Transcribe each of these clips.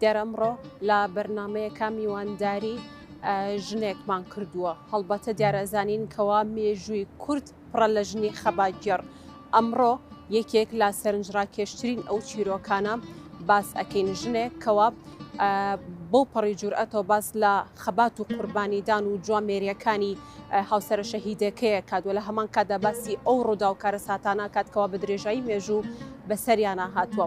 دیارە ئەمڕۆ لە بەرنامەیەکە میوانداری ژنێکمان کردووە هەڵبەتە دیارەزانین کەوا مێژووی کورد پڕە لە ژنی خەباگێڕ ئەمڕۆ یەکێک لە سەرنجڕاکێشترین ئەو چیرۆکانە باس ئەەکەین ژنێک کەوا بۆ پەڕی جورئەتەوە باس لە خەبات و قوربانیدان و جوامێریەکانی هاوسرە شەهیدەکەیە کات و لە هەمان کادا باسی ئەو ڕوودا و کارە ساتانە کاتکەوە بە درێژایی مێژوو بەسەریانە هاتووە.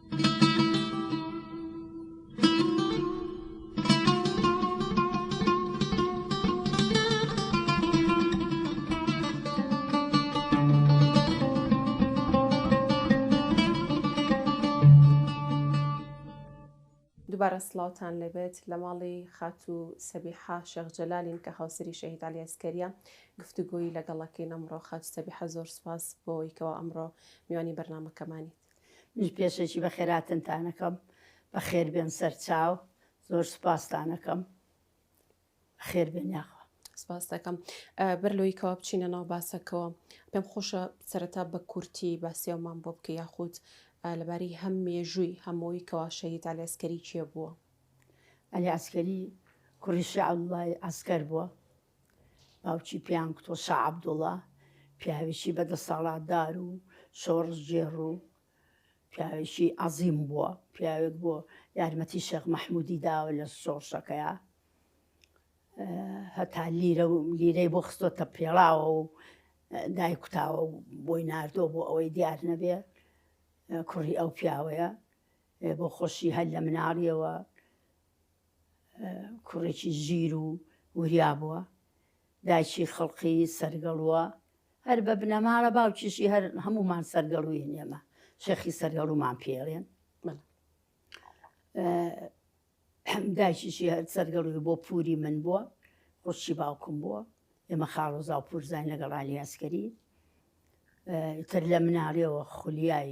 دووبارە سڵاوتان لێبێت لە ماڵی خاتو سەبیحا شێخ جەلالین کە هاوسری شەهید علی ئەسکەریە گفتوگۆیی لەگەڵەکەین ئەمڕۆ خاتو سەبیحە زۆر سپاس بۆیکەوە ئەمڕۆ میوانی بەرنمەکەمانیت منیش پێشەکی بەخێراتنتانەکەم بەخێربێن سەرچاو زۆر سوپاستانەکەم خێربێن یاخوا سپاس دەکەم بەر لۆی کەوا بچینە ناو باسەکەەوە پێم خۆشە سەرەتا بە کورتی باسیەوەمان بۆ بکە یاخود لەباری هەم مێژووی هەمەوەی کەوا شەهید ئالێسکەری کێ بووە ئەلی ئەسکەری کوڕی شعڵای ئەسکەر بووە باوکی پێیان گوتووە شا عەبدوڵڵا پیاوێکی بەدەسەڵاتدار و شۆڕشگێڕ و پیاوێکی عەزیم بووە، پیاوێک بووە یارمەتی شێخ مەحموودی داوە لە شۆڕشەکەیا، هەتا لیرە و لیرەی بۆ خستۆتە پێڵاوە و دایکوتاوە و بۆی ناردۆ بۆ ئەوەی دیار نەبێ کوڕی ئەو پیاوەیە بۆ خۆشی هەر لە مناڵیەوە کوڕێکی ژیر و وریا بووە، دایکی خڵقی سەرگەڵووە، هەر بە بنەماڵە باوکیشی هەر هەموومان سەرگەڵووین ئێمە شێخی سەرگەڵوومان پێڵێن دایکیشی هەر سەرگەڵووی بۆ پووری من بووە خوشی باوکم بووە ئێمە خاڵۆزا و پورزای لەگەڵانی ئەسکەری تر لە مناڵیەوە خولیای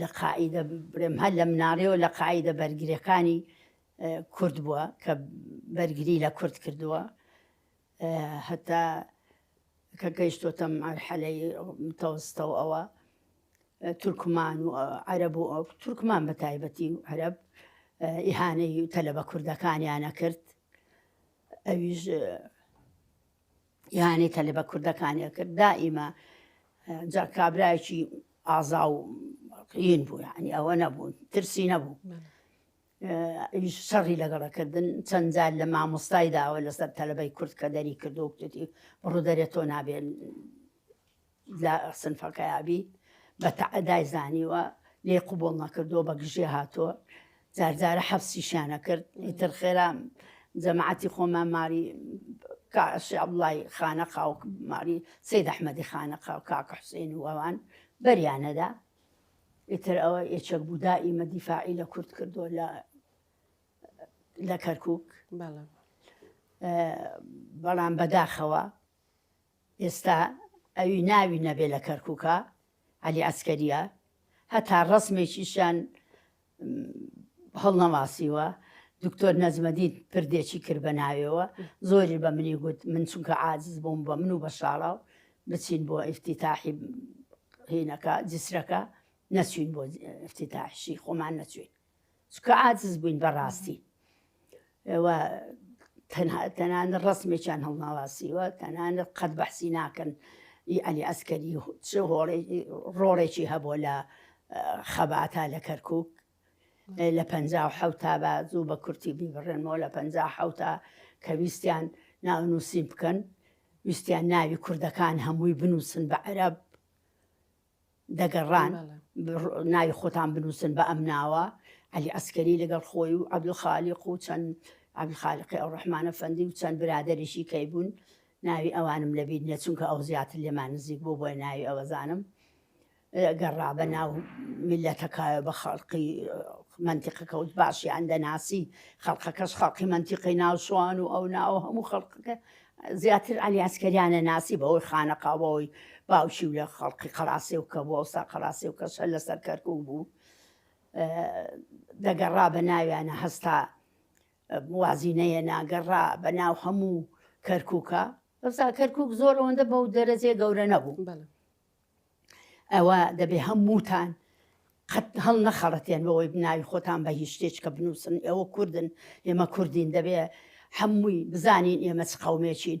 لە قاعیدە برێم هەر لە مناڵیەوە لە قاعیدە بەرگرەکانی کورد بووە کە بەرگری لە کورد کردووە هەتا کە گەیشتۆتەم ئەرحەلەی تەوستە و ئەوە تورکمان و عەرەب و ئەو تورکمان بە تایبەتی و عەرەب ئیهانەی تەلە بە کوردەکانیانە کرد ئەویش ئیهانەی کە لە بە کوردەکانیان کرد دائیمە جا کابرایەکی ئازا و قین بوو یعنی ئەوە نەبوو ترسی نەبوو ئیش شەڕی لەگەڵەکردن چەند جار لە مامۆستای داوە لەسەر تەلبەی کورد کە دەری کردو کوتی بڕوو دەرێت تۆ نابێن لە سنفەکەیا بی بە تەعەدای زانیوە لێی قبوڵ نەکردووە بە گژی هاتووە جار جارە حەفسیشیان ئەکرد ئیتر خێرا جەماعەتی خۆمان ماری کا شێخ عەبدوڵڵای خانەقا و ماری سەید ئەحمەدی خانەقا و کاک حوسێن و ئەوان بەریان نەدا ئیتر ئەوە یەکێک بوو دائیمە دیفاعی لە کورد کردووە لە لە کەرکک بەڵام بەداخەوە ئێستا ئەوی ناوی نەبێ لە کەرکوکە عەلی عەسکەریە هەتا ڕەسمێکیشیان هەڵنەواسیوە دکتۆر نەجمەدین پردێکی کرد بە ناوێەوە زۆری بە منی گوت من چونکە عاجز بووم بە من و بە شاڵاو بچین بۆ ئفتیتاحی هینەکە جسرەکە نەچوین بۆ ئفتیتاحشی خۆمان نەچوین چونکە عاجز بووین بەڕاستی ئەوە تەنان ڕسمێکیان هەڵناواسیوە تەنان قەت بەحسی ناکەن ئەلی ئەسکەری چ ڕۆڵێکی هەبووە لە خەباتا لە کەرکک لە پ حوتا بە زوو بە کورتی بیبڕێنەوە لە پ حوتا کە ویستیان ناو نووسین بکەن ویستیان ناوی کوردەکان هەمووی بنووسن بە عەرب دەگەڕان ناوی خۆتان بنووسن بە ئەم ناوە علی ئەسکەری لەگەڵ خۆی و عبدل خالیق و چەند عبدل خالقی ئەو ڕحمانە فەندی و چەند برادریشی کەی بوون ناوی ئەوانم لەبییر نیە چونکە ئەو زیاتر لێمان نزیک بۆ بۆی ناوی ئەوەزانم گەڕا بە ناو میلەتەکایە بە خەڵقی منتیقەکە و باشیان دەناسی خەڵقەکەش خەڵقی منتیقی ناوشوان و ئەو ناوە هەموو خەڵقەکە زیاتر عەلی عەسکەریانە ناسی بەهۆی خانەقاوەوەی باوکی و لە خەڵقی قەڵاسێو کە بوو ئەوسا قەڵاسێو کەس هەر لەسەر کەرکوک بوو دەگەڕا بە ناویانە هەستا وازینەیە ناگەڕا بە ناو هەموو کەرکووکە ئەوسا کەرکک زۆر ئەوەندە بەو دەرەجێ گەورە نەبوو ئەوا دەبێ هەمووتان قەت هەڵنەخەڵەتێن بەوەی بناوی خۆتان بە هیچ شتێچکە بنووسن، ئێوە کوردن، ئێمە کوردین، دەبێ هەمووی بزانین ئێمە چ قەومێکین،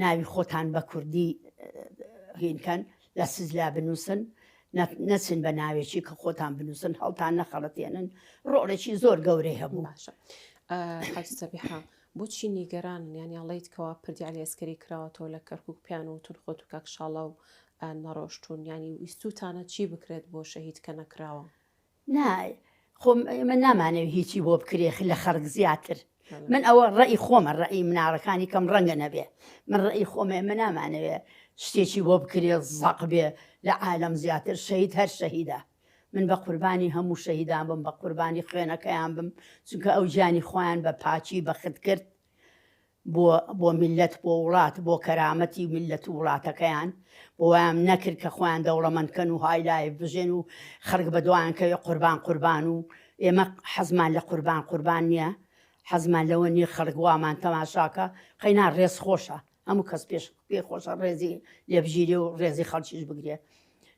ناوی خۆتان بە کوردی هین کەن، لە سجلا بنووسن، نەچن بە ناوێکی کە خۆتان بنووسن، هەڵتان نەخەڵەتێنن، ڕۆڵێکی زۆر گەورەی هەبوو. باشە. حاجی سەبیحە، بۆچی نیگەرانن یانی ئەڵێیت کەوا پردی عەلی ئەسکەری کراوەتەوە لە کەرکوک پیان وتون خۆت و کاک شاڵاو نەڕۆشتون یانی ویستوتانە چی بکرێت بۆ شەهید کە نەکراوە؟ نا خۆ ئێمە نامانەوی هیچی بۆ بکرێ لە خەرک زیاتر من ئەوە ڕەئی خۆمە ڕەئی مناڵەکانی کەم ڕەنگە نەبێ من ڕەئی خۆمە ئێمە نامانەوێ شتێکی بۆ بکرێ زەق بێ لە عالەم زیاتر شەهید هەر شەهیدە. من بە قوربانی هەموو شەهیدان بم بە قوربانی خوێنەکەیان بم چونکە ئەو گیانی خۆیان بە پاکی بەخت کرد بۆ بۆ میلەت بۆ وڵات بۆ کەرامەتی میلەت و وڵاتەکەیان بۆ وایان نەکرد کە خۆیان دەوڵەمەندکەن و های لایف بژێن و خەڵک بە دوایان کەوێ قوربان قوربان و ئێمە حەزمان لە قوربان قوربان نییە حەزمان لەوە نییە خەڵک وامان تەماشاکە قەینا ڕێز خۆشە هەموو کەس پێش پێی خۆشە ڕێزی لێبژیرێ و ڕێزی خەڵکیش بگرێ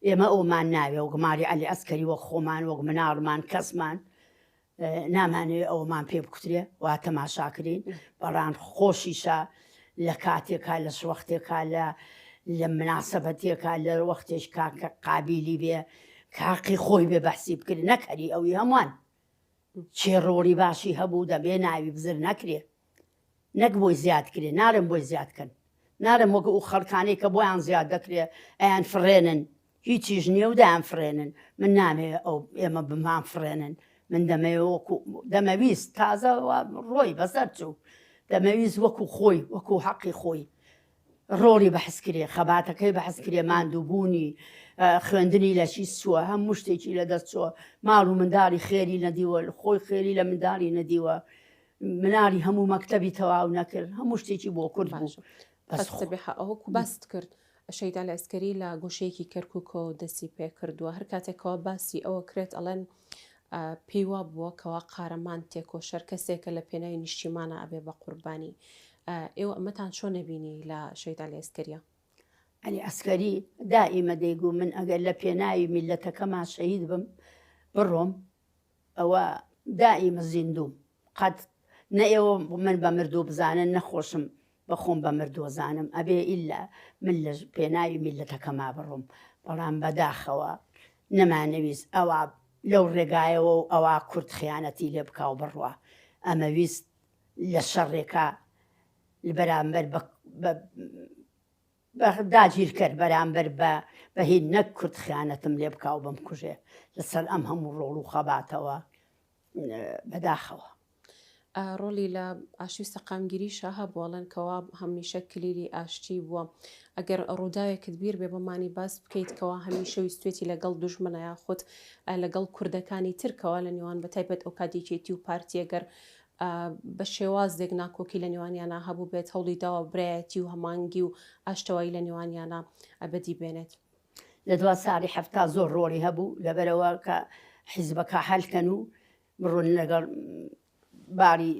ئێمە ئەومان ناوێ و گماری عەلی ئەسکەری وەک خۆمان وەک مناڵمان کەسمان نامانەوێ ئەومان پێ بکوترێ وا تەماشاکرین بەڵام خۆشیشە لە کاتێکا لە شوەختێکا لە لە مناسەبەتێکا لە وەختێش کاکە قابلی بێ کاقی خۆی بێ بەحسی بکرد نەکەری ئەوی هەمووان چێ ڕۆڵی باشی هەبوو دەبێ ناوی بزر نەکرێ نەک بۆی زیاد کرێ نالێم بۆی زیاد کەن نالێم وەک ئو خەڵکانەی کە بۆیان زیاد دەکرێ ئەیان فڕێنن هیچیش نیە و دەیان فڕێنن من نامەوێ ئەو ئێمە بمان فڕێنن من دەمەوێ وەکو دەمەویست تازە ڕۆی بەسەر چوو دەمەویست وەکو خۆی وەکو حەقی خۆی ڕۆڵی بەحسکرێ، خەباتەکەی بەحسکرێ، ماندووبوونی، خوێندنی لە چی چووە، هەموو شتێکی لە دەست چووە، ماڵ و منداڵی خێری نەدیوە، خۆی خێری لە منداڵی نەدیوە، مناڵی هەموو مەکتەبی تەواو نەکرد، هەموو شتێکی بۆ کورد بوو. ئەوەکو باست کرد شەیدا لە ئەسکەری لە گۆشەیەکی کەرککەوە دەستی پێکردووە هەر کاتێکەوە باسی ئەوە کرێت ئەڵێن پێی وا بووە کەوا قارەمان تێکۆشەر کەسێکە لە پێناوی نیشتیمانا ئەبێ بە قوربانی. ئێوە ئەمەتان چۆن نەبینی لە شەهید عەلی ئەسکەریا؟ عەلی ئەسکەری دائیمە دەیگوو من ئەگەر لە پێناوی میللەتەکەما شەهید بم بڕۆم ئەوە دائیمە زیندووم. قەت نە ئێوە من بە مردوو بزانن نە خۆشم بە خۆم بە مردوو زانم ئەبێ ئیلا من لە پێناوی میللەتەکەما بڕۆم بەڵام بەداخەوە نەمانەویست ئەوا لەو ڕێگایەوە و ئەوا کورد خیانەتی لێ بکا و بڕوا ئەمەویست لە شەڕێکا لە بەرامبەر بە بە داگیرکەر بەرامبەر بە بە هی نەک کورد خیانەتم لێ بکا و بمکوژێ لە سەر ئەم هەموو ڕۆڵ و خەباتەوە بە داخەوە. ڕۆڵی لە ئاشتی سەقامگیری شا هەبوو ئەڵێن کەوا هەمیشە کلیلی ئاشتی بووە ئەگەر ڕووداوێکت بیر بێ بەمانی باس بکەیت کەوا هەمیشە ویستێتی لەگەڵ دوژمنە یاخود لەگەڵ کوردەکانی ترکەوە لە نێوان بە تایبەت ئەو کاتێکێتی و پارتیەگەر بە شێوازێک ناکۆکی لە نێوانیانا هەبووبێت هەوڵی داوە برایەتی و هەمانگی و ئاشتەوایی لە نێوانیانا بەدی بێنێت. لە دوا ساڵی حەفتا زۆر ڕۆڵی هەبوو لەبەرئەوە کە حیزبەکە هەلکەن و بڕۆن لەگەڵ باری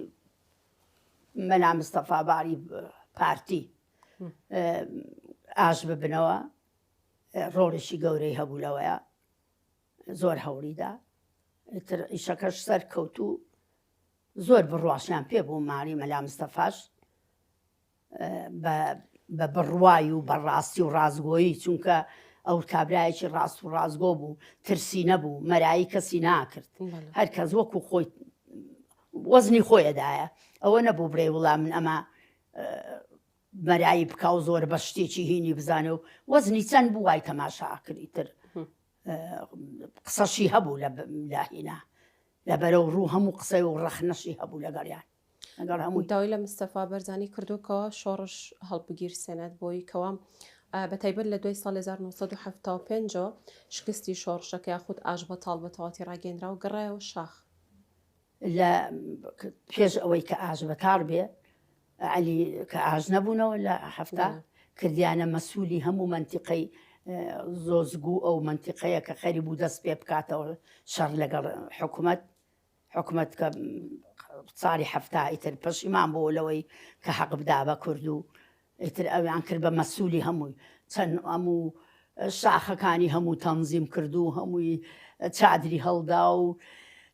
مەلا مستەفا باری پارتی ئاش ببنەوە ڕۆڵێکی گەورەی هەبوو لەوەیە زۆر هەوڵیدا ئیتر ئیشەکەش سەر کەوت و زۆر بڕواشیان پێ بوو ماری مەلا مستەفاش بە بڕوای و بەڕاستی و ڕازگۆیی چونکە ئەو کابراایکی ڕاست و ڕازگۆ بوو ترسی نەبوو مەرایی کەسی ناکرد هەر کەس وەکو خۆی وەزنی خۆیەدایە ئەوە نەبوو برێ وڵا من ئەمە مەرایی بکاو زۆر بە شتێکی هینی بزانێ و وەزنی چەند بوو وای تەماشاکردی تر قسەشی هەبوو لە لاهینا لە بەرەو ڕوو هەموو قسە و ڕەخنەشی هەبوو لەگەڵیان لەگەڵ هەموو داوای لە مستەفا بەرزانی کردوکەوە شۆڕش هەڵبگیر سێنەت بۆی کەوا بە تایبەت لە دوای سال 1975 شکستی شۆڕشەکە یاخود ئاش بە تاڵ بە تەواتی ڕاگەندرا و گەڕایەوە شاخ لە پێش ئەوەی کە ئاژ بە تاڕ بێ علی کە ئاژ نەبوونەوە لە هەفتا کردیانە مەسوولی هەموو منتیقەی زۆزگو ئەو منتیقەیە کە خەری بوو دەست پێ بکاتەوە شەڕ لەگەڵ حکوومەت حکوومەت کە ساڵی هەفتا ئیتر پەشیمان بۆ لەوەی کە حەق بدا بە کورد و ئیتر ئەویان کرد بە مەسولی هەمووی چەند ئەموو شاخەکانی هەموو تەنزیم کردوو هەمووی چادری هەڵدا و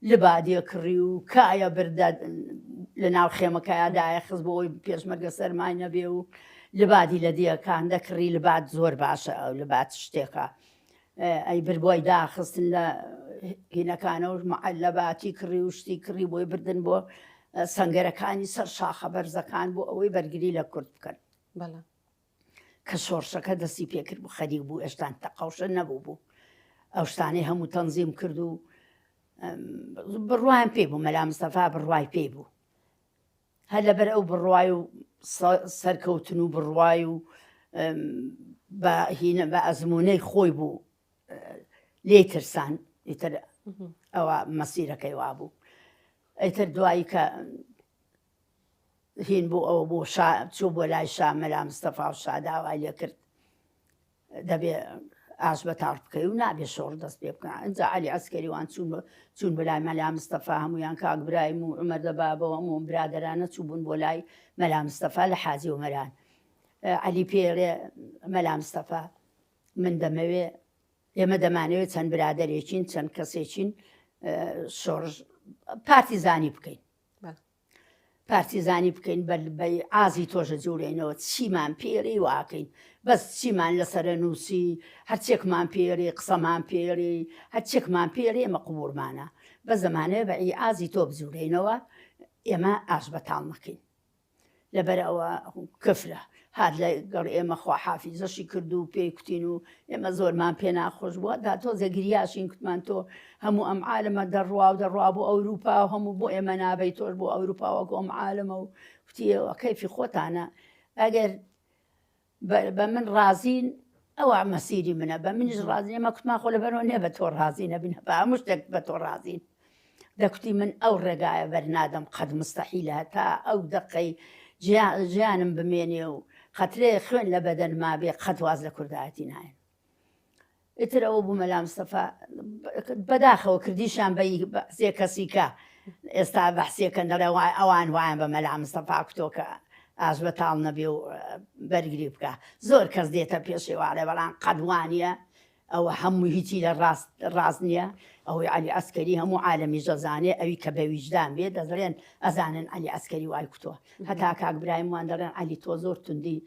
لبادێ کڕی و کایە بردە لە ناو خێمەکەیا دایە خز بۆ ئەوی پێشمەرگە سەرمای نەبێ و لبادی لە دیەکان دەکڕی لبات زۆر باشە ئەو لبات شتێکە ئەی برد بۆی داخستن لە هینەکانە و معلەباتی کڕی و شتی کڕی بۆی بردن بۆ سنگەرەکانی سەر شاخە بەرزەکان بۆ ئەوەی بەرگری لە کورد بکەن بەڵام کە شۆڕشەکە دەستی پێکرد بوو خەریک بوو ئێشتان تەقاوشە نەبوو بوو ئەو شتانەی هەموو تەنزیم کرد و بڕوایم پێ بوو مەلا مستەفا بڕوای پێی بوو هەر لەبەر ئەو بڕوای و سەرکەوتن و بڕوای و بە هینە بە ئەزمونەی خۆی بوو لێ ترسان ئیتر ئەوە مەسیرەکەی وابوو ئەیتر دوایی کە هین بۆ ئەوە بۆ چوو بۆ لای شا مەلا مستەفا و شاداوای لێ کرد دەبێ ئاش بە تاڕ بکەی و نابێ شۆڕ دەست پێ بکە ئەجا علی عسکەریوان چوون چوون بە لای مەلا مستەفا هەمویان کاک برایم و عمر دەبابەوە هەموو برادرانە چوو بوون بۆ لای مەلا مستەفا لە حاجی ومەران علی پێڵێ مەلا مستەفا من دەمەوێ ئێمە دەمانەوێت چەند برادێکین چەند کەسێکین شۆڕژ پارتیزانی بکەین پارتیزانی بکەین بە بە ئازی تۆشە جوورێنەوە چیمان پێری واکەین بەس چیمان لەسرە نووسی هەرچێکمان پێری قسەمان پێری هەرچێکمان پێرێ مەقبورمانە بە زمانێ بە ئی ئازی تۆ بجوورێنەوە ئێمە ئاش بەتاڵ نەکەین لەبەر ئەوە کفرە هات لە گەڵ ئێمە خواحافیزەشی کرد و پێی کوتین و ئێمە زۆرمان پێ ناخۆش بوو هەتا تۆزێ گریاشین کوتمان تۆ هەموو ئەم عالەمە دەڕوا و دەڕوا بۆ ئەوروپا و هەموو بۆ ئێمە نابەی تۆش بۆ ئەوروپا وەکو ئەم عالەمە و کوتی ئێوە کەیفی خۆتانە ئەگەر بە من ڕازین ئەوە مەسیری منە بە منیش ڕازی ئێمە کوتمان خۆ لەبەرەوە نێ بە تۆ ڕازی نەبین بە هەموو شتێک بە تۆ ڕازین دەکوتی من ئەو ڕێگایە بەرنادەم قەت مستەحیلە هەتا ئەو دەقەی ژیانم بمێنێ و قەترەیەک خوێن لە بەدەنما بێ قەت واز لە کوردایەتی ناێنم ئیتر ئەوە بوو مەلا مستەفا بەداخەوە کردیشان بە سێ کەسیکە ئێستا بەحسیەکەن دەڵێ وای ئەوان وایان بە مەلا مستەفا کتۆکە ئاش بە تاڵ نەبێ و بەرگری بکە زۆر کەس دێتە پێشێواڵێ بەڵام قەدوانە ئەوە هەمووی هیچی لە ڕاست ڕاست نیە ئەوەی عەلی عەسکەری هەموو عالەمیش ئەزانێ ئەوی کە بە ویژدان بێ دەزڵێن ئەزانن عەلی عەسکەری وای کوتوە هەتا کاک برایم وان دەڵێن عەلی تۆ زۆر توندی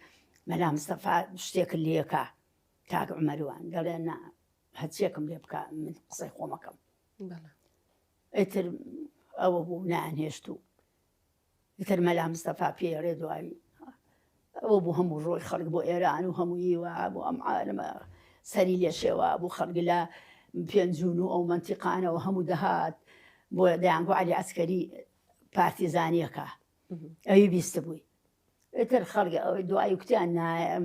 مەلا مستەفا شتێکت لێکا کاک عمەر وان دەڵێن نا هەچیەکم لێ بکە من قسەی خۆمەکەم ئیتر ئەوە بوو نانهێشت و ئیتر مەلا مستەفا پێی ئەرێ دوایی ئەوە بوو هەموو ڕۆی خەڵک بۆ ئێران و هەمووی وا بۆ ئەم عالمە سەری لێ شێوا بوو خەڵک لە پێنجون و ئەو منتیقانەوە هەموو دەهات بۆ دەیانگو علی ئەسکەری پارتیزانیەکە ئەوی بیست بووی ئیتر خەڵگە ئەوەی دوایی کوتیان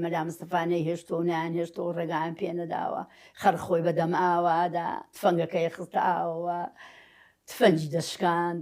مەلا مستەفانەی هێشتۆ نیان هێشتۆ ڕێگان پێ نەداوە خەر خۆی بەدەم ئاوادا تفەنگەکەی خستە ئاوەوە تفەنجی دەشکاند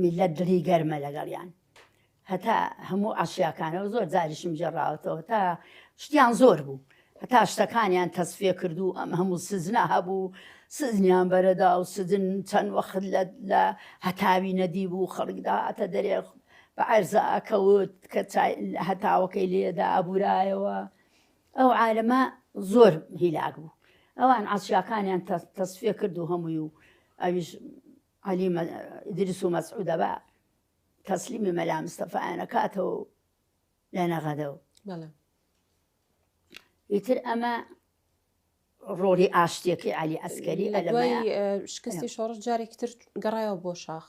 میللەت دڵی گەرمە لەگەڵیان هەتا هەموو عەشیاکانەوە زۆر جاریشم جێڕاوەتەوە تا شتیان زۆر بوو هەتا شتەکانیان تەسفێ کرد و ئەم هەموو سزنا هەبوو سزنیان بەرەدا و سزن چەند وەخت لە لە هەتاوی نەدی بوو خەڵکدا ئەتە دەرێ بە عەرزە ئەکەوت کە هەتاوەکەی لێدا ئەبورایەوە ئەو عالەمە زۆر هیلاک بوو ئەوان عەشیاکانیان تەسفیە کرد و هەمووی و ئەویش علی ئیدریس و مەسعودە بە تەسلیمی مەلا مستەفایانە کاتەوە لە نەغەدەوە ئیتر ئەمە ڕۆڵی ئاشتیەکەی علی ئەسکەری لە شکستی شۆڕش جارێکتر گەڕایەوە بۆ شاخ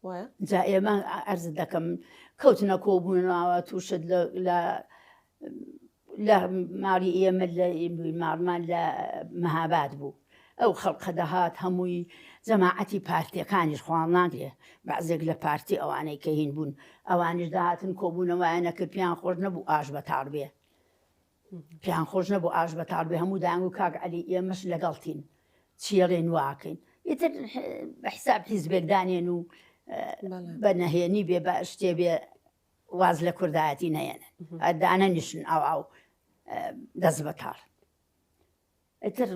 وایە؟ جا ئێمە عەرزت دەکەم کەوتنە کۆبوونەوە تووشت لە لە ماڵی ئێمە لە ماڵمان لە مەهاباد بوو ئەو خەڵقە دەهات هەمووی جەماعەتی پارتیەکانیش خوان ناگرێ بەعزێک لە پارتی ئەوانەی کە هین بوون ئەوانیش داهاتن کۆبوونەوەیانە کرد پێیان خۆش نەبوو ئاش بەتاڵ بێ پێیان خۆش نەبوو ئاش بەتاڵ بێ هەموو دەیانگوو کاک عەلی ئێمەش لەگەڵتین چی ئەڵێن وا ئەکەین ئیتر بە حیساب حیزبێک دانێن و بە نەهێنی بێ بە شتێ بێ واز لە کوردایەتی نەیەنن دانەنیشن ئاو ئاو دەست بەتاڵ ئیتر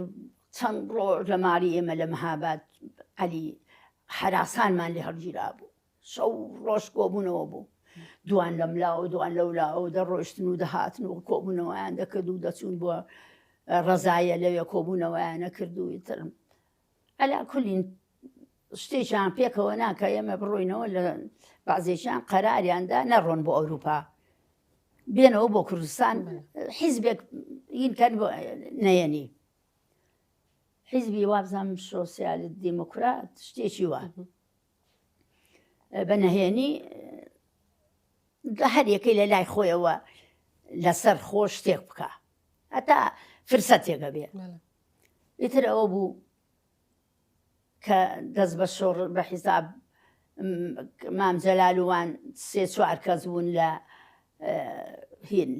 چەند ڕۆژ لە ماڵی ئێمە لە مەهاباد عەلی حەراسانمان لێ هەڵگیرابوو، شەو و ڕۆژ کۆبوونەوە بوو، دووان لەم لا و دووان لەو لا و دەڕۆیشتن و دەهاتن و کۆبوونەوەیان دەکرد و دەچوون بۆ ڕەزایە لەوێ کۆبوونەوەیان ئەکرد و ئیتر ئەلا کولین شتێکیان پێکەوە ناکە ئێمە بڕۆینەوە لە بازێکیان قەراریاندا نەڕۆن بۆ ئەوروپا بێنەوە بۆ کوردستان حیزبێک ئینکەن نەیەنی حیزبی وابزانام سۆسیال دیموکرات شتێکی وە بە نەهێنی هەر یەکەی لە لای خۆیەوە لەسەر خۆ شتێک بکە هەتا فرسەتێکە بێ ئیتر ئەوە بوو کە دەست بە شۆڕ بە حیساب مام جەلال وان سێ چوار کەس بوون لە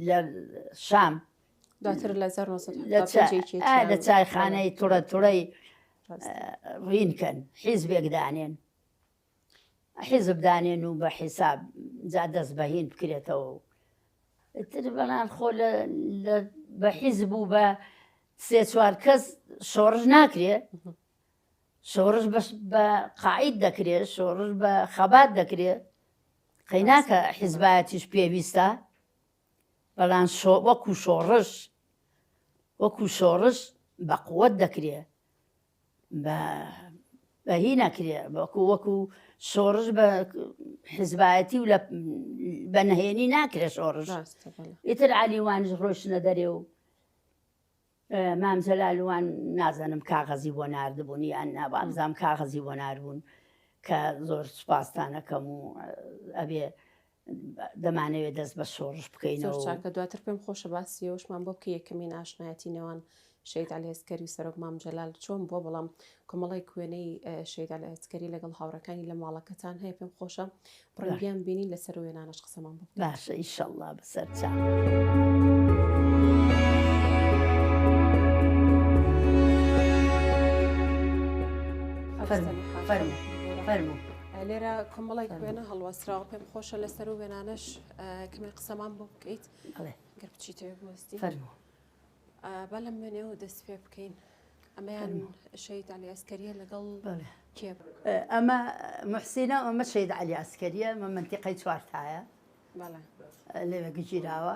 لە شام دواتر لە لە چایخانەی توڕە توڕەی ڕینکەن حیزبێک دانێن حیزب دانێن و بە حیساب جا دەست بە هین بکرێتەوە و ئیتر بەنان خۆ لە بە حیزب و بە سێ چوار کەس شۆڕش ناکرێ شۆڕش بە قاعید دەکرێت شۆڕش بە خەبات دەکرێت قەیناکە حیزبایەتیش پێویستە بەڵام وەکو شۆڕش وەکو شۆڕش بە قوت دەکرێت بە بە هی نەکرێ وەکو وەکو شۆڕش بە حزبایەتی و لە بە نهێنی ناکرێ شۆڕش ئیتر علیوانش ڕۆشنە دەرێ و مامجلالوان نازانم کاغەزی بۆ نردبوونی ئەن نابامزام کاغەزی بۆ ناربوون کە زۆر سوپاستانەکەم و ئەبێ دەمانەوێت دەست بە شۆڕش بکەین زۆر چاکە دواتر پێم خۆشە باسی ئەوشمان بۆ بکە یەکەمین ئاشنایەتی نێوان شەید ئەلێسکەری سەرۆک مام جەلال چۆن بۆ بەڵام کۆمەڵی کوێنەی شەید ئەلێسکەری لەگەڵ هاوڕەکانی لە ماڵەکەتان هەیە پێم خۆشە بڕنگیان بینین لەسەر وێنانەش قسەمان بۆ باشە ئیشەڵا بەسەر چاڵ. فرمو فرمو فرمو لێرە کۆمەڵێک وێنە هەڵوەسراوە پێم خۆشە لەسەر و وێنانەش کەمێ قسەمان بۆ بکەیت گەر بچیتەوە بۆستی فەرمو با لەم وێنەوە دەست پێ بکەین ئەمەیان شەید علی ئەسکەریە لەگەڵ کێ ئەمە محسینە ئەمە شەید علی ئەسکەریە مە منتیقەی چوارتایە لەوێ گژیراوە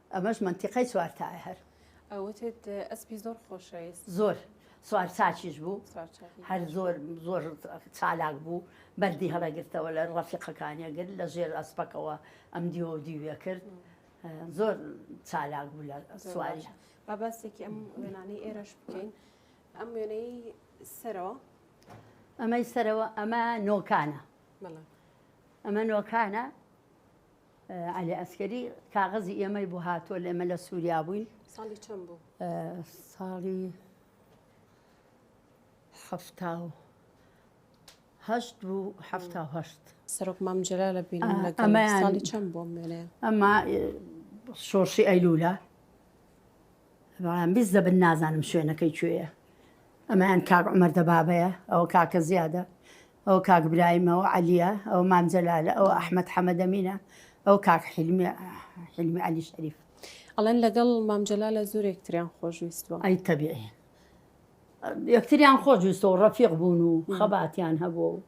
ئەمەش مەنتیقەی چوار تایە هەر. ئەوتێت ئەسپی زۆر خۆشەویست زۆر سوار چاچیش بوو هەر زۆر زۆر چالاک بوو بەردی هەڵەگرتەوە لە ڕەفیقەکانیە گرت لە ژێر ئەسپەکەوە ئەم دیوە دیوێ کرد زۆر چالاک بوو لە سواری با باسێکی ئەم وێنانەی ئێرەش بکەین ئەم وێنەی سەرەوە ئەمەی سەرەوە ئەمە نۆکانە ئەمە نۆکانە عەلی عەسکەری کاغەزی ئێمەی بۆ هاتووە لێمە لە سووریا بووین ساڵی چەند بوو ساڵی حەفتا و هەشت بوو حەفتا و هەشت سەرۆک مام جەلال لە بینیم لە ئەمەیان- ساڵی چەند بۆ مێنێ ئەمە شۆڕشی ئەیلولە بەڵام بیست دەبن نازانم شوێنەکەی کوێیە ئەمەیان کاک عمەر دەبابەیە ئەوە کاکە زیادە ئەوە کاک برایم، ئەوە عەلیە، ئەوە مام جەلالە، ئەوە ئەحمەد حەمەد ئەمینە، ئەوە کاک حیلمی حیلمی عەلی شەریف. ئەڵێن لەگەڵ مام جەلالە زۆر یەکتریان خۆشویستوە. ئەی تەبیعی. یەکتریان خۆشویستوە و ڕەفیق بوون و خەباتیان هەبوو و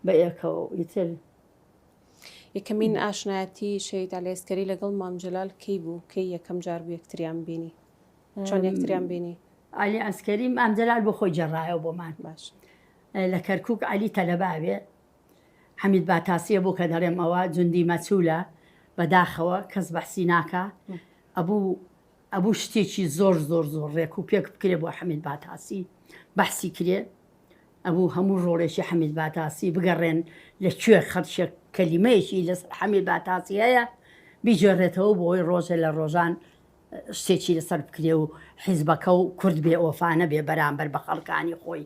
بەیەکەوە و ئیتر. یەکەمین ئاشنایەتی شەهید عەلی عەسکەری لەگەڵ مام جەلال کەی بوو؟ کەی یەکەم جار بوو یەکتریان بینی؟ چۆن یەکتریان بینی؟ عەلی عەسکەری مام جەلال بۆ خۆی گێڕایەوە بۆمان. باشە. لە کەرکوک عەلی تەلەباوێ حەمید باتاسیە بۆ کە دەڵێم ئەوە جوندی مەچولە بەداخەوە کەس بەحسی ناکا ئەبوو ئەبوو شتێکی زۆر زۆر زۆر ڕێک و پێک بکرێ بۆ حەمید باتاسی بەحسی کرێ ئەبوو هەموو ڕۆڵێکی حەمید باتاسی بگەڕێن لە کوێ خەڵشێک کەلیمەیەکی لەسەر حەمید باتاسی هەیە بیجێڕێتەوە بۆ ئەوی ڕۆژێ لە ڕۆژان شتێکی لەسەر بکرێ و حیزبەکە و کورد بێ ئۆفانە بێ بەرامبەر بە خەڵکانی خۆی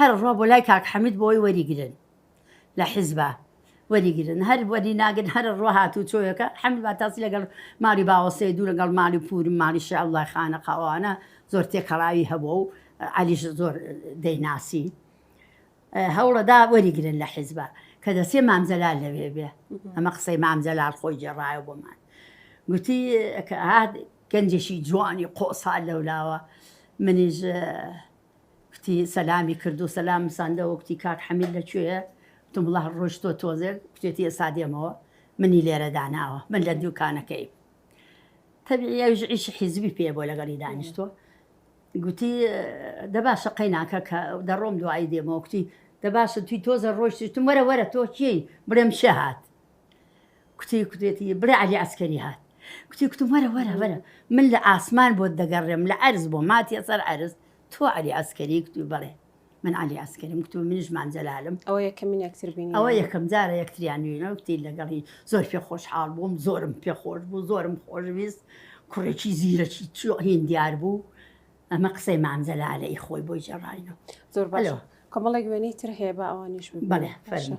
هەر ڕۆ بۆ لای کاک حەمید بۆی وەریگرن لە حیزبا وەریگرن هەر وەری ناگرن هەر ڕۆ هاتوو چۆیەکە حەمید باتاسی لەگەڵ مالی باوەسێ دوو لەگەڵ مالی پوور مالی شەعبڵای خانە قاوانە زۆر تێکەڵاوی هەبوو و عەلیش زۆر دەیناسی هەوڵەدا وەریگرن لە حیزبا کە دەسێ مامجەلال لەوێ بێ ئەمە قسەی مامجەلال خۆی جێڕایە بۆمان گوتی گەنجێکی جوانی قۆسا لەولاوە منیش کوتی سەلامی کرد و سەلامم ساندەوە کوتی کاک حەمید لە کوێیە کوتم وڵا ڕۆشتوە تۆزێک کوتێتی ئێستا دێمەوە منی لێرە داناوە من لە دوکانەکەی تەبیعی ئەویش عیشی حیزبی پێ بۆ لەگەڵی دانیشتوە گوتی دەباشە قەیناکە کە دەڕۆم دوایی دێمەوە کوتی دەباشە توی تۆزە ڕۆشتشتم وەرە وەرە تۆ کێی بڵێم شەهات کوتی کوتێتی بڕێ عەلی عسکەری هات کوتی کوتم وەرە وەرە وەرە من لە ئاسمان بۆت دەگەڕێم لە ئەرز بۆ ماتیە سەر ئەرز تۆ عەلی عسکەری کوتی بڵێ من علی ئەسکەریم کتو منیشمان جەلالم ئەوە یەکەمین یەکتربین ئەوە یەکەم جارە یەکتریانویەوە کتی لەگەڵی زۆر پێ خۆشحاڵ بووم زۆرم پێ خۆش بوو زۆرم خۆشویست کوڕێکی زیرەکی چیۆ هین دیار بوو ئەمە قسەی مامزەلالەی خۆی بۆی جێڕایەوە زۆر بەلەوە کۆمەڵێک وێنەی تر هەیە بە ئەوانیش بڵێ فەرمە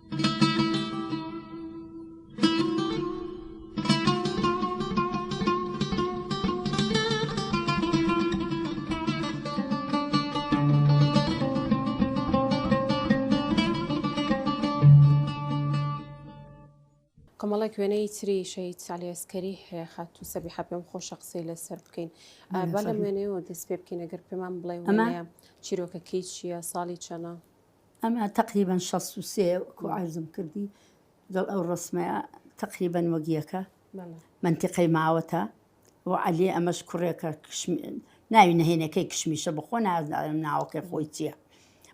کۆمەڵێک وێنەی تری شەید سالی ئەسکەری هەیە خات و سەبی حە پێم خۆشە قسەی لەسەر بکەین بەڵام وێنەیەوە دەست پێ بکەین ئەگەر پێمان بڵێ ئەمە چیرۆکەکەی چییە ساڵی چەنە ئەمە تەقریبەن شەست و سێ وەکو عەرزم کردی دڵ ئەو ڕسمەیە تەقریبەن وەگیەکە منتیقەی ماوەتە و عەلی ئەمەش کوڕێکە ناوی نهێنەکەی کشمیشە بخۆ نازدارم ناوەکەی خۆی چییە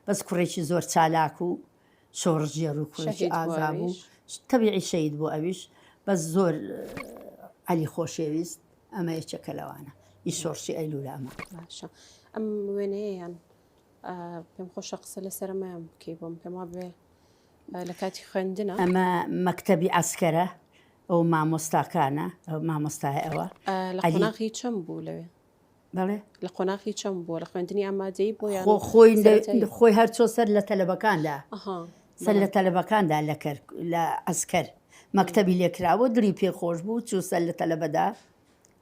بەس کوڕێکی زۆر چالاک و شۆڕژێر و کوڕێکی ئازا بوو تەبیعی شەید بوو ئەویش بەس زۆر عەلی خۆشەویست ئەمە یەکێکە لەوانە ئی شۆڕشی ئەیلولا ئەمە ئەم وێنەیەیان پێم خۆشە قسە لە سەرەمایان بکەی بۆم پێم وابێ لە کاتی خوێندنە ئەمە مەکتەبی عسکەرە ئەو مامۆستاکانە ئەو مامۆستای ئەوە لە قۆناغی چەم بوو لەوێ بەڵێ لە قۆناغی چەم بووە لە خوێندنی ئامادەی بۆ یان خۆ خۆی لە- سەرەتایی؟ خۆی هەر چۆ سەر لە تەلەبەکاندا ئەها سەر لە تەلەبەکاندا لە کەر لە عسکەر مەکتەبی لێکراوە دڵی پێ خۆش بوو چوو سەر لە تەلەبەدا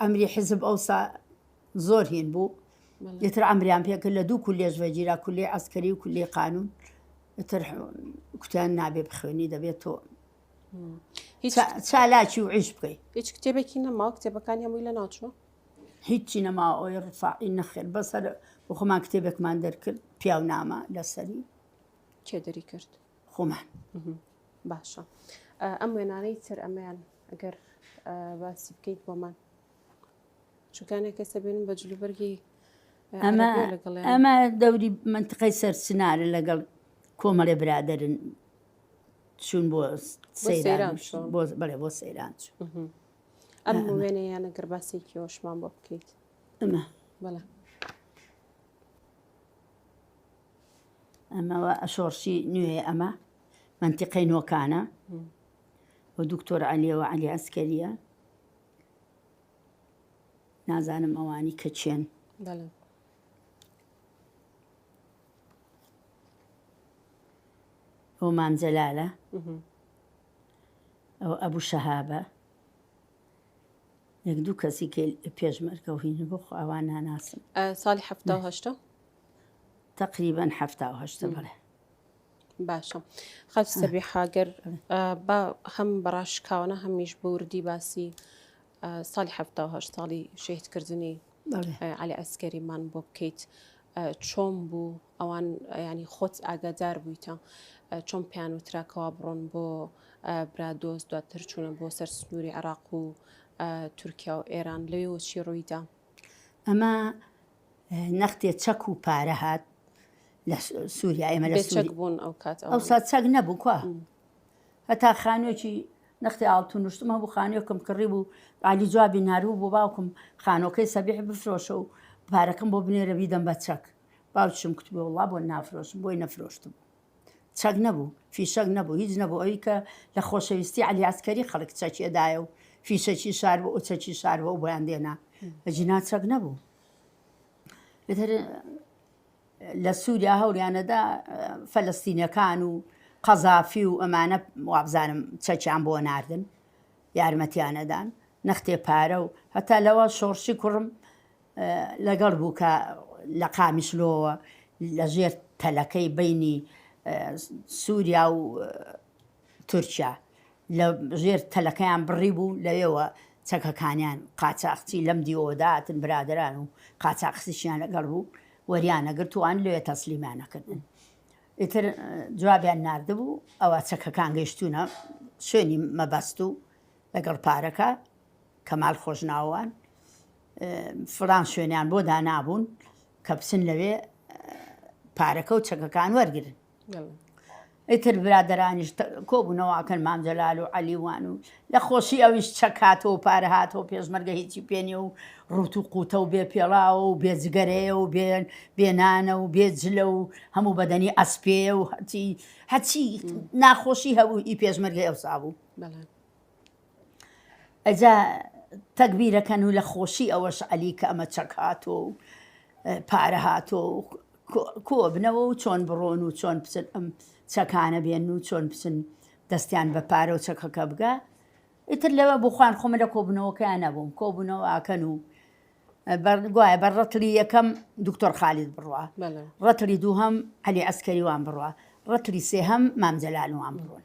ئەمری حزب ئەوسا زۆر هین بوو یتر ئەمریان پێکرد لە دوو کولێژ ڤەجیرا کولی ئەسکەری و کولی قانون تر کوتیان نابێ بخوێنی دەبێت تۆ چالاکی و عیش بکەیت هیچ کتێبێکی نەما کتێبەکانی هەمووی لە ناچوە هیچی نەما ئەوی ڕفاعی نەخێر بەسەر بۆ خۆمان کتێبێکمان دەرکرد پیاو نامە لەسەری کێ دەری کرد خۆمان باشە ئەم وێنانەی تر ئەمەیان ئەگەر باسی بکەیت بۆمان چکانێک کە سەبێن بە جلوبەرگی ئەمە ئەمە دەوری منتقی سەرچنارە لەگەڵ کۆمەڵێ برادرن چون بۆ سەیران بڵێ بۆ سەیران چوون ئەم وێنە یانە گەرباسێکی هۆشمان بۆ بکەیت ئەمە بەڵە ئەمە وە شۆڕشی نوێیە ئەمە مەنتیقەی نۆکانە و دکتۆر عەلیەوە عەلی ئەسکەریە نازانم ئەوانی کە چێن ئەو مامجەلالە ئەو ئەبوو شەهابە یەک دوو کەسی پێشمەرگە و هین بۆ خواوان ناناسم ساڵی هەفتا هەشتا تەقریبەن حەفتا و هەشتە بەڵێ باشە خەف سەبی حاگەر با هەم بەڕاشکاوانە هەمیش بوردی باسی ساڵی هەفتا و هەشت ساڵی شەهیدکردنی علی ئەسکەریمان بۆ بکەیت چۆم بوو ئەوان ینی خۆت ئاگادار بوویتە چۆن پیان و تراکەوە بڕۆن بۆ برادۆست دواتر چوونە بۆ سەر سنووری عراق و تورکیا و ئێران لەوێ وەچی ڕوویدا ئەمە نەختێ چەک و پارە هات لە سووریا ئێمە لە سوور بوون ئەو کات ئەو سات چەک نەبوو کوا هەتا خانوێکی نەختی ئاڵتو نوشتم هەبوو خانوێکم کڕی بوو عالی جوابی ناروو بۆ باوکم خانۆکەی سەبیح بفرۆشە و پارەکەم بۆ بنێرە بیدەم بە چەک باوکشم کوتبێ وڵا بۆ نافرۆشم بۆی نەفرۆشتم چەک نەبوو فیشەک نەبوو هیچ نەبوو ئەوی کە لە خۆشەویستی علیاسکەری خەڵک چەکێدایە و فیشەکی شار بۆ ئەو چەکی شار بۆ بۆیان دێنا ئەجینا چەک نەبوو لە سووریا هەوریانەدا فەلستینەکان و قەزافی و ئەمانە وابزانم چەکیان بۆ ناردن یارمەتیانەدان نەختێ پارە و هەتا لەوە شۆڕشی کوڕم لەگەڵ بوو کە لە قامیشلۆوە لە ژێر تەلەکەی بینی سووریا و تورکیا لە ژێر تەلەکەیان بڕی بوو لەوێوە چەکەکانیان قاچاخچی لەم دیۆداتن برادران و قاچاخسیشیان لەگەڵ بوو وەریانە گرتووان لێ تەسلیمانەکردن ئیتر جوابیان نردبوو ئەوە چەکەکان گەشتونە شوێنی مەبەست و لەگەڵ پارەکە کەمال خۆشناوان فڵان شوێنیان بۆ دانابوون کە بچن لەوێ پارەکە و چەکەکان وەرگن ئیتر برادرانیش کۆبوونەوەکەن مامجلال و علیوان و لە خۆشی ئەویش چەکاتەوە پارە هاتەوە پێشمەرگە هیچی پێێنێ و ڕوت و قوتە و بێ پێڵاوە و بێجگەرەیە و بێن بێنانە و بێ جلە و هەموو بەدەنی ئەسپێ و هەچی هەچی ناخۆشی هەبوو ئی پێشمەرگە ئەوسا بوو ئەجا تەک بیرەکەن و لە خۆشی ئەوەش عەلی کە ئەمە چەک هاتۆ و پارە هاتۆ کۆبنەوە و چۆن بڕۆن و چۆن بچن ئەم چەکانە بێن و چۆن بچن دەستیان بە پارە و چەکەکە بگە ئیتر لەوە بۆ خوان خۆمە لە کۆبنەوەکەیان نەبووم کۆبوونەوە ئاکەن و گوایە بە ڕەتلی یەکەم دکتۆر خالید بڕە ڕەتلی دووهم علی ئەسکەریوان بڕە ڕەتلی سێهم مامجلالوان بڕۆن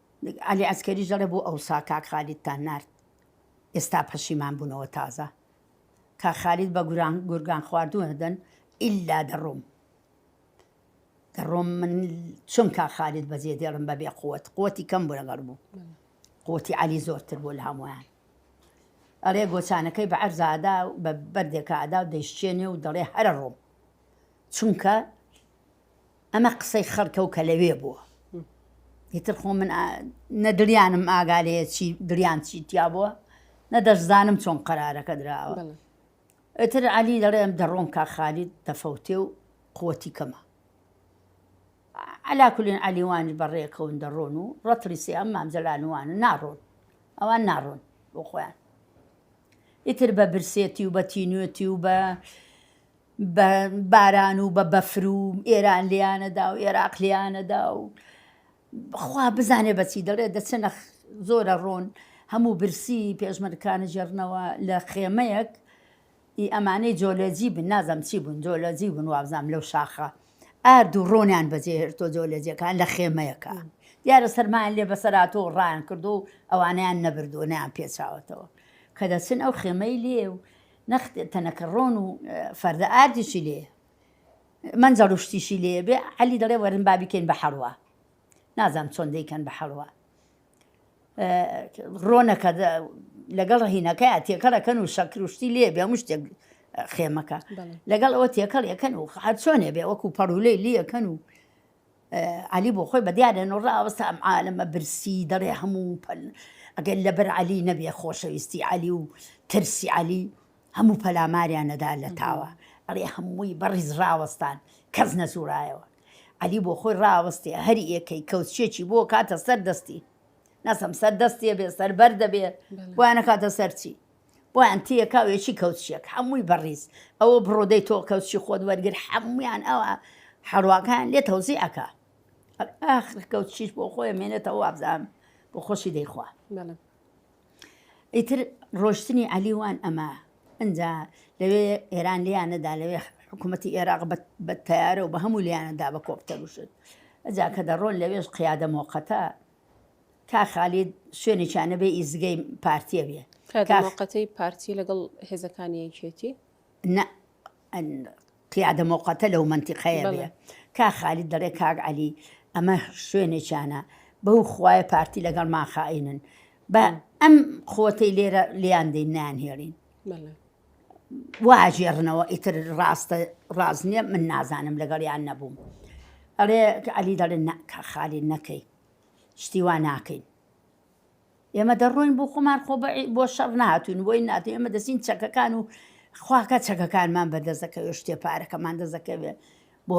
عەلی عەسکەریش دەڵێ بۆ ئەوسا کاک خالیدتان نارد ئێستا پەشیمان بونەوە تازە کاک خالید بە گوران گورگان خواردوو هەدەن ئیلا دەڕۆم دەڕۆم من چۆن کا خالید بەجێ دێڵم بەبێ قوت قوتی کەم بۆ لەگەڵ بوو قوتی علی زۆرتر بۆ لە هەمویان ئەڵێ گۆچانەکەی بە عەرزادا و بە بەردێکادا و دەیشتێنێ و دەڵێ هەرە ڕۆم چونکە ئەمە قسەی خەڵکە و کە لەوێ بووە. ئیتر خۆ من نە دڵیانم ئاگا لێ چی دڵیان چی تیا بووە، نە دەشزانم چۆن قەرارەکە دراوە. بەڵێ. ئیتر عەلی دەڵێم دەڕۆم کاک خالید دەفەوتێ و قووتی کەمە. عەلا کولین عەلی وانی بەڕێکەون دەڕۆن و ڕەتڵی سێ ئەم مام جەلال وانە ناڕۆن، ئەوان ناڕۆن بۆ خۆیان. ئیتر بە برسێتی و بە تینوێتی و بە، بە باران و بە بەفر و ئێران لێیانەدا و ئێراق لێیانەدا و خوا بزانێ بەچی دەڵێ دەچنە زۆرە ڕۆن هەموو برسی پێشمەرکانە ژێرنەوە لە خێمەیەک ئی ئەمانەی جۆلەجی بن نازەم چی بوون جۆلەجی بوون وابزانام لەو شاخە ئارد و ڕۆنیان بەجێهێرتۆ جۆلەجەکان لە خێمەیەکە دیارە سەرمایان لێ بەسەراتۆ ڕایان کردو ئەوانیان نەبردووە نیان پێچاوەتەوە کە دەچن ئەو خێمەی لێ و نەخ تەنەکە ڕۆن و فەردە ئاردیشی لێیە مەنجەڵ و شتیشی لێ بێ عەلی دەڵێ وەرن با بیکەین بە حەڵوا نازانم چۆن دەیکەن بە حەڵوا ڕۆنەکە لەگەڵ ڕهینەکە تێکەڵەکەن و شەکر و شتی لێ بێ هەموو شتێک خێمەکە لەگەڵ ئەوە تێکەڵ یەکەن و هەر چۆنێ بێ وەکو پەڕولەی لەکەن و عەلی بۆ خۆی بەدیارە نۆ ڕاوەستە ئەم عالەمە برسی دەڵێ هەموو پەل ئەگەر لەبەر عەلی نەبێ خۆشەویستی عەلی و ترسی عەلی هەموو پەلاماریانەدا لە تاوە ئەڵێ هەمووی بەڕیز ڕاوەستان کەس نەزورایەوە عەلی بۆ خۆی ڕاوەستێ هەر یەکەی کەوتچێکی بۆ کاتە سەر دەستی ناسم سەر دەستێ بێ سەر بەر دەبێ وانە کاتە سەرچی بۆیان تیەکا و یەکی کەوچیەک حەمووی بەڕیز ئەوە بڕۆ دەی تۆ کەوچی خۆت وەرگر حەموویان ئەوە حەڕواکان لێ تەوزی ئەکا ئاخر کەوچیش بۆ خۆی مێنێتەوە وابزان بۆ خۆشی دەیخوا ئیتر ڕۆشتنی عەلیوان ئەمە ئەجا لەوێ ئێران لیان نەدا لەوێ حکوومەتتی ئێراق بە تیارە و بە هەموو لیانەدا بە کۆپتەروشت ئەجا کە دەڕۆن لەوێش قیادە مۆقەتە کاک خالید شوێنێکیان نەبێ ئیزگەی پارتیە بێ کادر موقتەی پارتی لەگەڵ هێزەکانی یەکێتی نە قیادە موقتە لەو منتیقەیە بێ کا خالید دەڵێ کاک علی ئەمە شوێنێکیانە بەو خوایە پارتی لەگەڵ ماخائینن بە ئەم قوتەی لێرە لیان دەین نان هێڵین واژێڕنەوە ئیتر ڕاستە ڕاست نییە من نازانم لەگەڵیان نەبووم ئەڵێ علی دەڵێن ناکە خالی نەکەی شتی وا ناکەین ئێمە دەڕۆین بۆ خۆمان خۆ بۆ شەڕ ناتوین بۆی نات ئێمە دەچین چەکەکان و خواکە چەکەکانمان بەدەست دەکەوێت شتێ پارەکەمان دەست دەکەوێت بۆ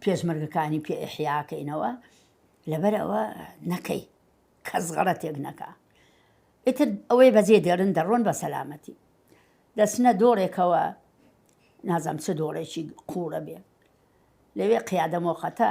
پێشمەرگەکانی پێ ئەحیاکەینەوە لەبەر ئەوە نەکەی کەس غەڕە تێک نەکە ئیتر ئەوەی بەجێ دێرن دەڕۆن بە سەلامەتی دەچنە دۆڕێکەوە نازەم چ دۆڕێکی قوڕە بێ لەوێ قیادە مۆخەتە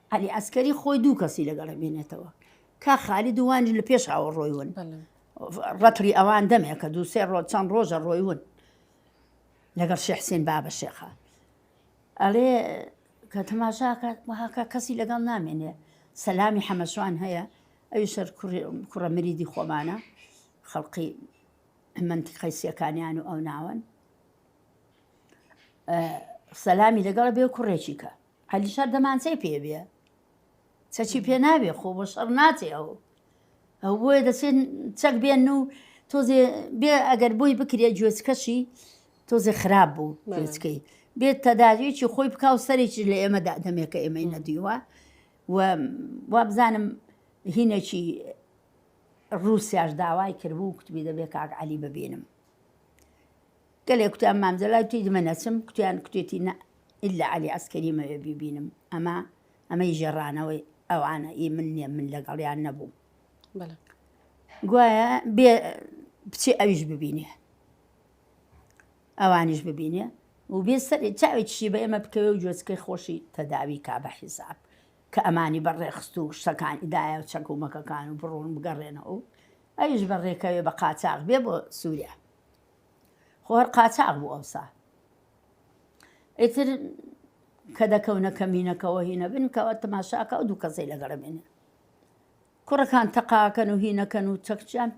عەلی عەسکەری خۆی دوو کەسی لەگەڵ ئەمێنێتەوە کاک خالید و وانیش لە پێشەوە ڕۆی ون ڕەتری ئەوان دەمێ کە دوو سێ ڕۆژ چەند ڕۆژە ڕۆی ون لەگەڵ شێ حسێن بابە شێخە ئەڵێ کە تەماشاکات وهاکە کەسی لەگەڵ نامێنێ سەلامی حەمەشوان هەیە ئەوی شەر کوڕە مریدی خۆمانە خەڵقی منتی قەیسیەکانیان و ئەو ناوەن سەلامی لەگەڵ بێ کوڕێکی کە عەلی شەر دەمانچەی پێ بێ چەکی پێ نابێ خۆ بۆ شەڕ ناچێ ئەو ئەو بۆیە دەچێت چەک بێن و تۆزێ بێ ئەگەر بۆی بکرێ گوێچکەشی تۆزێ خراپ بوو گوێچکەی بێت تەداویەکی خۆی بکا و سەرێکی لە ئێمە دادەمێکە ئێمەی نەدیوە و وابزانم هینێکی ڕوسیاش داوای کردبوو کوتبی دەبێت کاک علی ببینم گەلێ کوتیان مام جەلال توی دمە نەچم کوتیان کوتێتی نە ئیلا عەلی عەسکەری مەوێ بیبینم ئەمە ئەمەی ژێڕانەوەی ئەوانە ئی من نیە من لەگەڵیان نەبووم گوایە بێ بچێ ئەویش ببینێ ئەوانیش ببینێ و بێ سەر چاوێکیشی بە ئێمە بکەوێ و جۆچکەی خۆشی تەداوی کا بە حیساب کە ئەمانی بە ڕێخست و شتەکانی دایە و چەکومەکەکان و بڕون بگەڕێنەوە ئەویش بە ڕێکەوێ بە قاچاق بێ بۆ سووریا خۆ هەر قاچاغ بوو ئەوسا. ئیتر کە دەکەونە کەمینەکەوە هینەبن کەوە تەماشاکە ئەو دوو کەسەی لەگەڵە بێنێ کوڕەکان تەقاکەن و هینەکەن و چەکچیان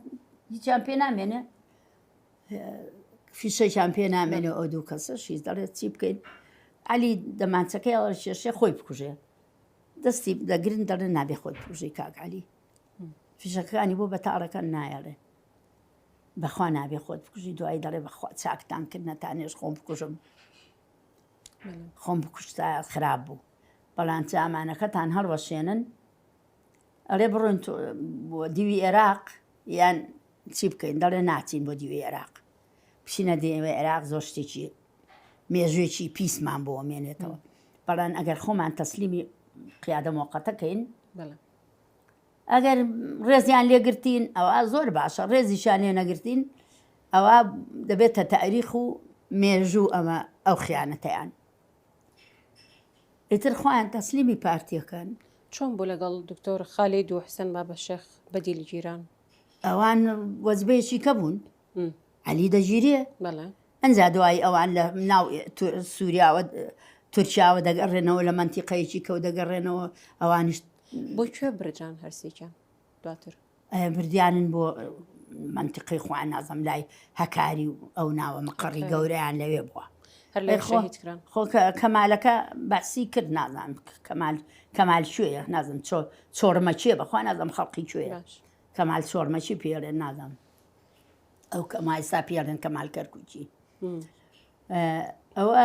هیچیان پێ نامێنێ فیشەکیان پێ نامێنێ ئەو دوو کەسە شیز دەڵێت چی بکەین علی دەمانچەکەی ئەوە شێشێ خۆی بکوژێ دەستی دەگرن دەڵێن نابێ خۆی پوژی کاک علی فیشەکانی بۆ بەتاڕەکان نایەڵێ بەخوا نابێ خۆت بکوژی دوایی دەڵێ بەخوا چاکتان کرد نەتانێش خۆم بکوژم خۆم بکوشتا خراپ بوو بەڵام جامانەکەتان هەڵوەشێنن ئەڵێ بڕۆن بۆ دیوی عێراق یان چی بکەین دەڵێ ناچین بۆ دیوی عێراق بچینە دێوە عێراق زۆر شتێکی مێژوێکی پیسمان بۆ مێنێتەوە بەڵام ئەگەر خۆمان تەسلیمی قیادە مۆقەتەکەین ئەگەر ڕێزیان لێ گرتین ئەوا زۆر باشە، ڕێزیشیان لێ نەگرتین ئەوا دەبێتە تاریخ و مێژوو ئەمە ئەو خیانەتەیان ئیتر خۆیان تەسلیمی پارتیەکەن. چۆن بوو لەگەڵ دکتۆر خالید و حسن بابەشێخ بەدیل گیران؟ ئەوان وەزبەیەکی کە بوون علی دەگیرێ ئەجا دوایی ئەوان لە ناو سووریاوە تورکیاوە دەگەڕێنەوە لە منتیقەیەکی کەوت دەگەڕێنەوە ئەوانیش بۆ کوێ برجان هەرسێکیان دواتر بردیانن بۆ منتیقی خوان نازم لای هەکاری و ئەو ناوە مقڕی گەوریان لەوێ بووە خۆ کەمالەکە باسی کرد نازان کەمال کەمال شوێ نازم چۆ چۆرمەچێ بەخوا نازم خەڵقی کوێ کەمال چۆرمەچی پێڵێ نازم ئەو کە مایستا پیاڵێن کەمال کەرکوچی ئەوە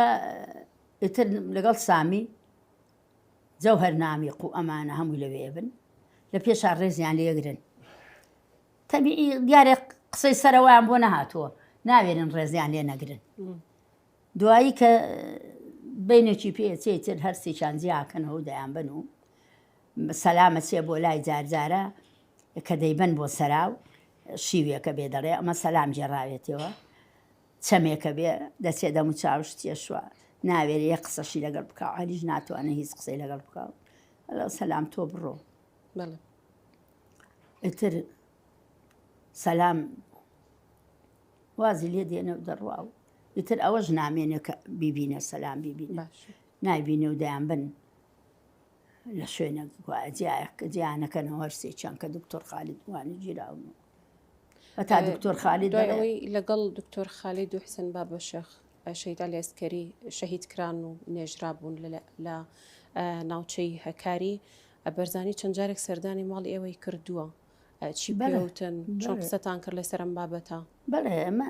ئیتر لەگەڵ سامی جەو هەر نامی قو ئەمانە هەمووی لەوێ بن لە پێشا ڕێزیان لێگرن تەبی دیارێ قسەی سەرەوەیان بۆ نەهاتووە ناوێنن ڕێزیان لێ نەگرن دوایی کە بینێکی پێچێ تر هەرسێکیان جیاکەنەوە دەیان بن و سەلامە چێ بۆ لای جارجارە کە دەیبەن بۆ سەراو شیوێکە بێ دەڵێ ئەمە سەلام گێڕاوێتیەوە چەمێکە بێ دەچێ دەم و چاوش تێشوە ناوێرێ یە قسەشی لەگەڵ بکە عالیش ناتوانێت هیچ قسەی لەگەڵ بکە سەلام تۆ بڕۆ ئیتر سەلام وازی لێ دێنە و دەڕوا و ئیتر ئەوەش نامێنێکە بیبینە سەلام بیبینە نایبینە و دەیان بن لە شوێنێک گوایە جیایەک کە جیا نەکەنەوە هەر سێ چیان کە دکتۆر خالید وانی گیراون و هەتا ئێ، دکتۆر خالید دوای دەڵێ، ئەوەی لەگەڵ دکتۆر خالید و حسێن بابە شێخ ئە، شەهید عەلی عەسکەری شەهید کران و نێژرابوون لە لە ئە، ناوچەی هەکاری ئە، بەرزانی چەند جارێک سەردانی ماڵی ئێوەی کردووە ئە، چی بەڵێ، پێوتن چۆن بەڵێ. قسەتان کرد لەسەر ئەم بابەتە؟ بەڵێ ئێمە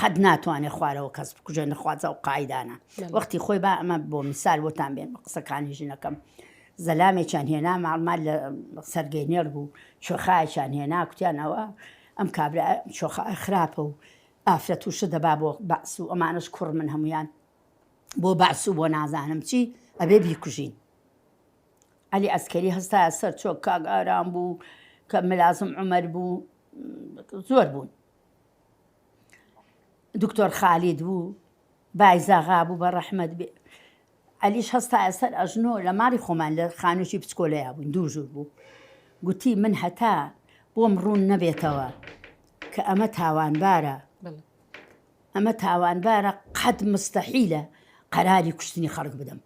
قەت ناتوانێت خوارەوە کەس بکوژێ نەخوازە و قاعدانە وەختی خۆی با ئەمە بۆ میسال بۆتان بێن بە قسەکانی ژنەکەم زەلامێکیان هێنا ماڵمان لە سەرگەینێر بوو شۆخایەکیان هێنا کوتیانەوە ئەم کابرا شۆخە خراپە و ئافرەت و شە دەبا بۆ بەس و ئەمانش کوڕ من هەمویان بۆ بەس و بۆ نازانم چی ئەبێ بیکوژین علی ئەسکەری هەستا سەر چۆک کاگاران بوو کە ملازم عمر بوو زۆر بوون دکتۆر خالید بوو بایزاغا بوو بە ڕەحمەت بێ ئەلیش هەستا ئەسەر ئەژنۆ لە ماری خۆمان لە خانووی پچکۆلەیە بوون دوو ژوور بوو گوتی من هەتا بۆم ڕوون نەبێتەوە کە ئەمە تاوانبارە ئەمە تاوانبارە قەت مستەحیلە قەراری کوشتنی خەڵک بدەم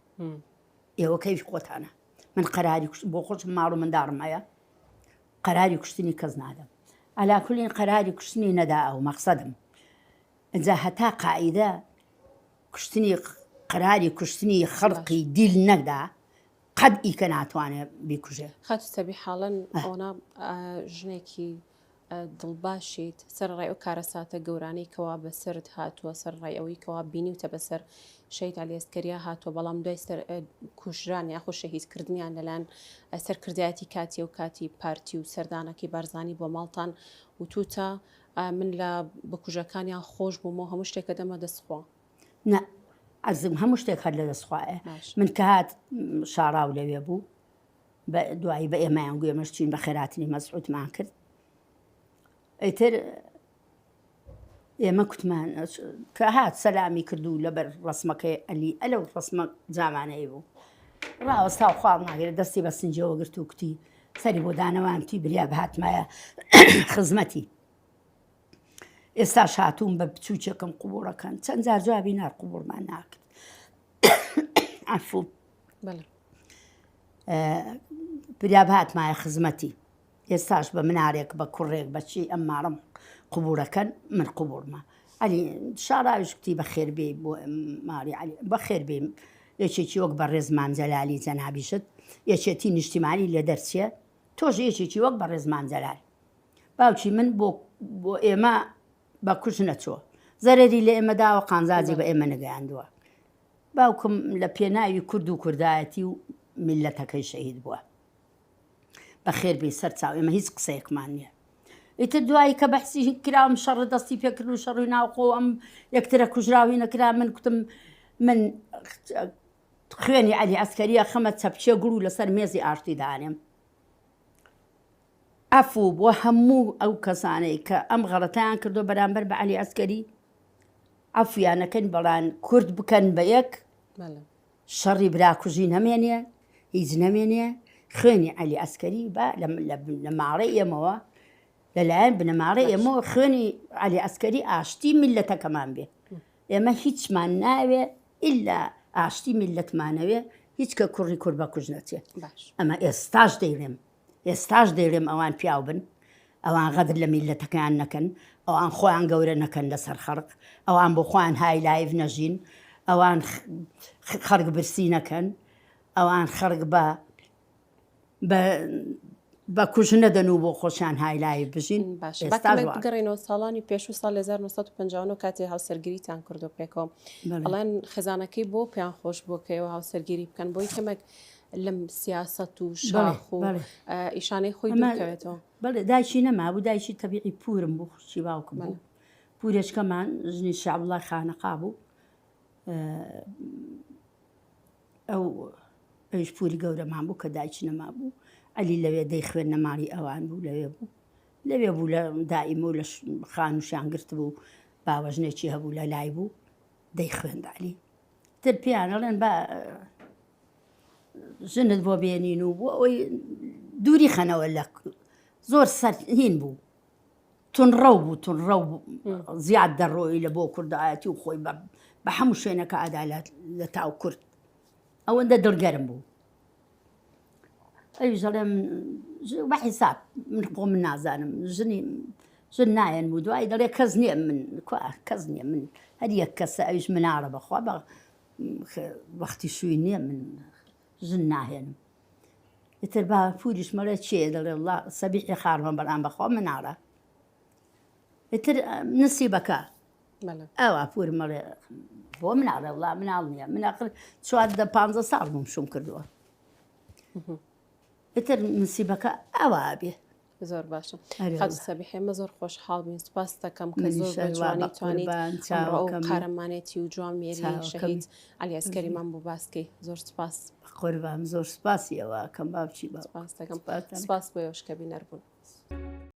ئێوە کەوی خۆتانە من قەراری کوشت بۆ خۆشم ماڵ و منداڕم هەیە قەراری کوشتنی کەس نادەم عەلا کولین قەراری کوشتنی نەدا ئەو مەقسەدم ئەجا هەتا قاعیدە کوشتنی قەراری کوشتنی خەڵقی دیل نەکدا قەد ئیکە ناتوانێت بیکوژێ خاتو سەبی حاڵن ئەونا ژنێکی دڵباشیت سەر ڕێ و کارەساتە گەورانەی کەوا بەسرد هاتووە سەر ڕێ ئەوەی کەوا بینیوتە بەسەر شەهید عەلی ئەسکەریا هاتووە، بەڵام دوای سەر کوژران یاخود شەهید کردنیان لەلایەن سەرکردایەتی کاتی و کاتی پارتی و سەردانەکەی بارزانی بۆ ماڵتان وتوتە من لە بکوژەکانیان خۆش بووم و هەموو شتێکە دەمە دەست خوا. نە عزم هەموو شتێک هەر لە دەست خوایە من کە هات شاراو لەوێ بوو بە دوایی بە ئێمەیان گوێمەش چین بە خێراتنی مەسعوتمان کرد ئەیتر ئێمە کوتمان کە هات سەلامی کرد و لەبەر ڕسمەکەی ئەلی ئەلە و ڕسمە جامانەی بوو ڕاوەستا و خاڵ ناگرێت دەستی بە سنجەوە گرت و کوتی سەری بۆ دانەوانتی بریا بهاتمایە خزمەتی ئێستا شاتوم بە بچووکێکم قوبوڕەکەن چەند جار جوابی نار قوبوڕمان ناکرد ئەفو بریا بهاتمایە خزمەتی ئێستاش بە منارێک بە کوڕێک بە چی ئەم مارەم قوبوورەکەن من قوبوورمە علی شاراویش کوتی بە خێربێ بۆ ماری علی بە خێربێ یەکێکی وەک بە ڕێزمان جەلالی جەنابیشت یەکێتی نیشتیمانی لێ دەرچێ تۆش یەکێکی وەک بە ڕێزمان جەلال باوکی من بۆ بۆ ئێمە بە کوش نەچوە زەرری لە ئێمە داوە قانزاجی بە ئێمە نگەیاندووە باوکم لە پێناوی کورد و کوردایەتی و میلەتەکەی شەهید بووە بەخێر بێی سەر چاو ئێمە هیچ قسەیەکمان نییە ئیتر دوایی کە بەحسی کراوم شەڕ دەستی پێکرد و شەڕوی ناوخۆ ئەم یەکترە کوژراوی نەکرا من کوتم من خوێنی علی ئەسکەریە خەمە چەپچێ گوڵ و لەسەر مێزی ئاشتی دانێم ئەفو بۆ هەموو ئەو کەسانەی کە ئەم غەڵەتیان کردو بەرامبەر بە علی ئەسکەری عفویانەکەن بەڵان کورد بکەن بە یەک شەڕی براکوژی نەمێنێ هیچ نەمێنێ خوێنی عەلی ئەسکەری بە لە ماڕێ ئێمەوە لەلایەن بنەماڕێ ئێمە خوێنی علی ئەسکەری ئاشتی میلەتەکەمان بێ ئێمە هیچمان ناوێ ئللا ئاشتی میلەتمانەوێ هیچ کە کوڕی کورد بە کوژ نەچێت ئەمە ئێستاش دەیڵێم ئێستاش دەیڵێم ئەوان پیاو بن، ئەوان غەدر لە میللەتەکەیان نەکەن، ئەوان خۆیان گەورە نەکەن لەسەر خەڵک، ئەوان بۆ خۆیان های لایڤ نەژین، ئەوان خەڵک برسی نەکەن، ئەوان خەڵک بە بە کوژ نەدەن و بۆ خۆشیان های لایڤ بژین. باشە ئێستاش بەکەمێک وا. بگەڕێینەوە ساڵانی پێشوو ساڵ 1959 کاتێ هاوسەرگیریتان کردو پێکەوە بەڵێ. ئەڵێن خێزانەکەی بۆ پێیان خۆش بووە کە ئێوە هاوسەرگیری بکەن بۆی کەمێک لەم سیاسەت و شاخ و ئیشانەی خۆی نەکەوێتەوە بەڵێ دایکی نەمابوو دایکی تەبیعی پورم بوو خوشی باوکم بوو پورێچکەمان ژنی شعبڵە خانەقا بوو ئەو ئەوش پوری گەورەمان بوو کە دایکی نەما بوو ئەلی لەوێ دەی خوێن نەماڵی ئەوان بوو لەوێ بوو لەوێ بوو لە دائیمە و لە خانوشیان گرت بوو باوەژنێکی هەبوو لە لای بوو دەی خوێندالی تر پێیان ئەڵێن با ژنت بۆ بێنین و بۆ ئەوی دووری خەنەوە لە زۆر سەرهین بوو تونڕەو بوو تونڕەو زیاد دەڕۆی لە بۆ کوردایەتی و خۆی بە هەموو شوێنەکە ئادالات لە تاو کورد ئەوەندە دڵگەرم بوو ئەویش دەڵێم بە حیساب من خۆ من نازانم ژنی ژن نایەن و دوایی دەڵێ کەس نییە من کەس نییە من هەر یەک کەسە ئەویش مناڵە بەخوا بە وەختی شووی نییە من ژن ناهێنم ئیتر با پوریش مەڵێ چێ دەڵێ وڵا سەبیحی خاڕمە بەڵام بەخوا مناڵە ئیتر نسیبەکە ئەوا پوورم ئەڵێ بۆ مناڵێ وڵا مناڵ نییە من ئەخر چوار دە پ ساڵ بووم شوم کردووە ئیتر نسیبەکە ئەوا بێ زۆر باشە سەبی حێمە زۆر خۆش حاڵبین سپاس دەکەم کە زۆرجوانی توانیت قارەمانێتی و جوان مێری شەهید علی ئەسکەریمان بۆ باسکەی زۆر سپاس قوربان زۆر سپاسیەوە کەم باوچی بە سپاس دەکەم سپاس بۆ یشکە بینەر بوون.